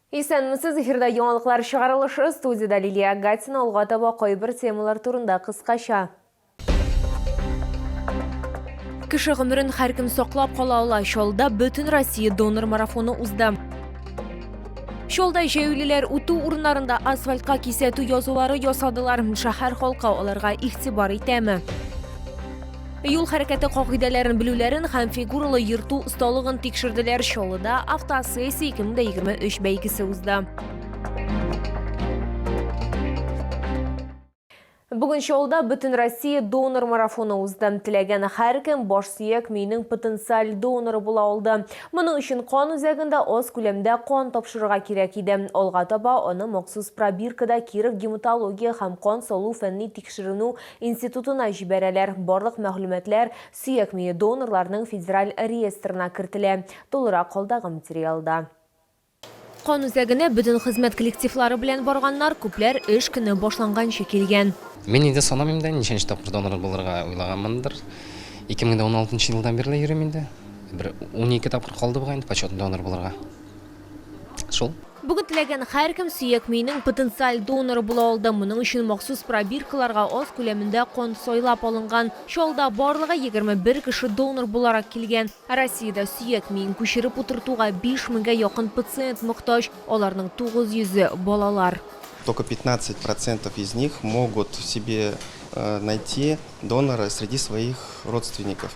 Исәнмесез, эфирда яңалыклар чыгарылышы, студиядә Лилия Агатина, алга таба кайбер темалар турында кыскача. Кеше гомерен һәркем саклап кала ала. Чаллыда бөтен Россия донор марафоны узды. Чаллыда җәяүлеләр үтү урыннарында асфальтка кисәтү язулары ясадылар. Шәһәр халкы аларга игътибар итәме? Юл хәрәкәте кагыйдәләрен белүләрен һәм фигуралы йөртү осталыгын тикшерделәр. Чаллыда автосессия 2023 бәйгесе узды. Бүген Чаллыда бөтен Россия донор марафоны узды. Теләгән һәркем баш сөяк миенең потенциаль доноры була алды. Моның өчен кан үзәгендә аз күләмдә кан тапшырырга кирәк иде. Алга таба аны махсус пробиркада Киров гематология һәм кан салу фәнни тикшеренү институтына җибәрәләр, барлык мәгълүматлар сөяк мие донорларының федераль реестрына кертелә, тулырак алдагы материалда. Кан үзәгенә бөтен хезмәт коллективлары белән барганнар, күпләр эш көне башланганчы килгән. Мин инде санамыйм да, ничәнче тапкыр донор булырга уйлаганмындыр. Ике мең дә уналтынчы елдан бирле йөрим инде. Бер унике тапкыр калды бугай инде почетный донор булырга. Шул. Бүген теләгән һәркем сөяк миенең потенциаль доноры була алды. Моның өчен махсус пробиркаларга аз күләмендә кан сайлап алынган. Чаллыда барлыгы 21 кеше донор буларак килгән. Ә Россиядә сөяк миен күчереп утыртуга 5 меңгә якын пациент мохтаҗ, аларның 900-е, балалар. Только 15 процентов из них могут себе найти донора среди своих родственников.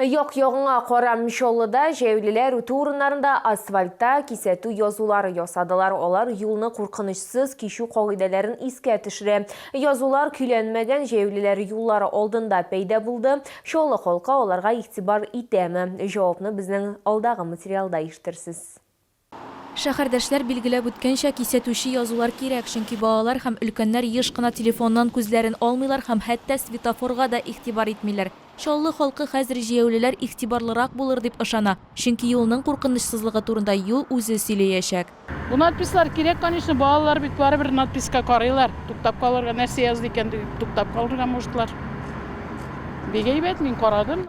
Як-ягыңа кара Мчоллыда җәяүлеләр үтү урыннарында асфальтта кисәтү язулары ясадылар. Алар юлны куркынычсыз кичү кагыйдәләрен искә төшерә. Язулар көйләнмәгән, җәяүлеләр юллары алдында пәйда булды. Чаллы халкы аларга игътибар итәме? Җавапны безнең алдагы материалда ишетерсез. Шәһәрдәшләр билгеләп үткәнчә, кисәтүче язулар кирәк, чөнки балалар һәм өлкәннәр еш кына телефоннан күзләрен алмыйлар һәм хәтта светофорга да игътибар итмиләр. Чаллы халкы хәзер җәяүлеләр игътибарлырак булыр дип ышана, чөнки юлның куркынычсызлыгы турында юл үзе сөйләячәк. Бу надпислар кирәк, конечно, балалар бит барыбер надписка карыйлар, туктап калырга, нәрсә язды икән дип туктап калырга можетлар. Бик әйбәт, мин карадым.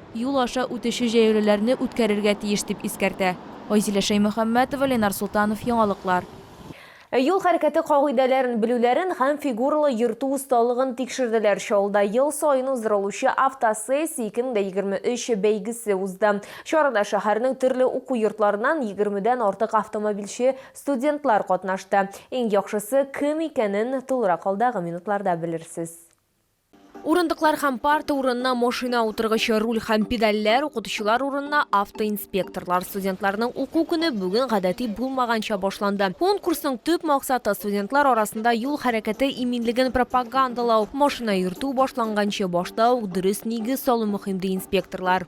юл аша үтүче җәяүлеләрне үткәрергә тиеш, дип искәртә Айзилә Шәймөхәммәтова, Ленар Солтанов, Яңалыклар. Ә юл хәрәкәте кагыйдәләрен белүләрен һәм фигуралы йөртү осталыгын тикшерделәр. Чаллыда ел саен уздырылучы Автосессия 2023 бәйгесе узды. Чарада шәһәрнең төрле уку йортларыннан егермедән артык автомобильче студентлар катнашты. Иң яхшысы кем икәнен тулырак алдагы минутларда белерсез. Урындыклар һәм парта урынына машина утыргычы, руль һәм педальләр, укытучылар урынына автоинспекторлар. Студентларның уку көне бүген гадәти булмаганча башланды. Конкурсның төп максаты студентлар арасында юл хәрәкәте иминлеген пропагандалау. Машина йөртү башланганчы башта ук дөрес нигез салу мөһим, ди инспекторлар.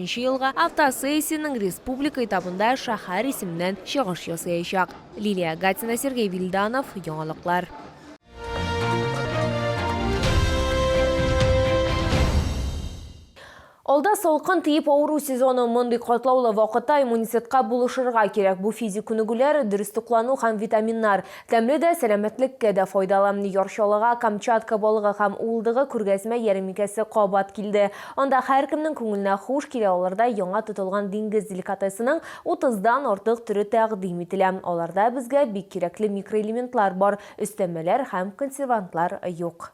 Нче елга автосессиянең республика этабында шәһәр исеменнән чыгыш ясыячак. Лилия Гатина, Сергей Вильданов, Яңалыклар. Алда салкын тиеп авыру сезоны. Мондый катлаулы вакытта иммунитетка булышырга кирәк. Бу физик күнегүләр, дөрес туклану һәм витаминнар. Тәмле дә, сәламәтлеккә дә файдалы. Яр Чаллыга Камчатка балыгы һәм уылдыгы күргәзмә-ярминкәсе кабат килде. Анда һәркемнең күңеленә хуш килә алырдай яңа тотылган диңгез деликатесының утыздан артык төре тәкъдим ителә. Аларда безгә бик кирәкле микроэлементлар бар, өстәмәләр һәм консервантлар юк.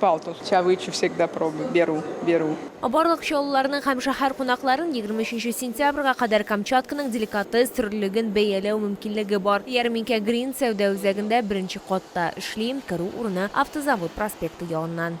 Палтус, чавычу всегда пробую, беру, беру. Барлык чаллыларның һәм шәһәр кунакларын егерме өченче сентябрьгә кадәр Камчатканың деликатес төрлелеген бәяләү мөмкинлеге бар. Ярминкә Грин сәүдә үзәгендә беренче катта эшли, керү урыны, Автозавод проспекты ягыннан.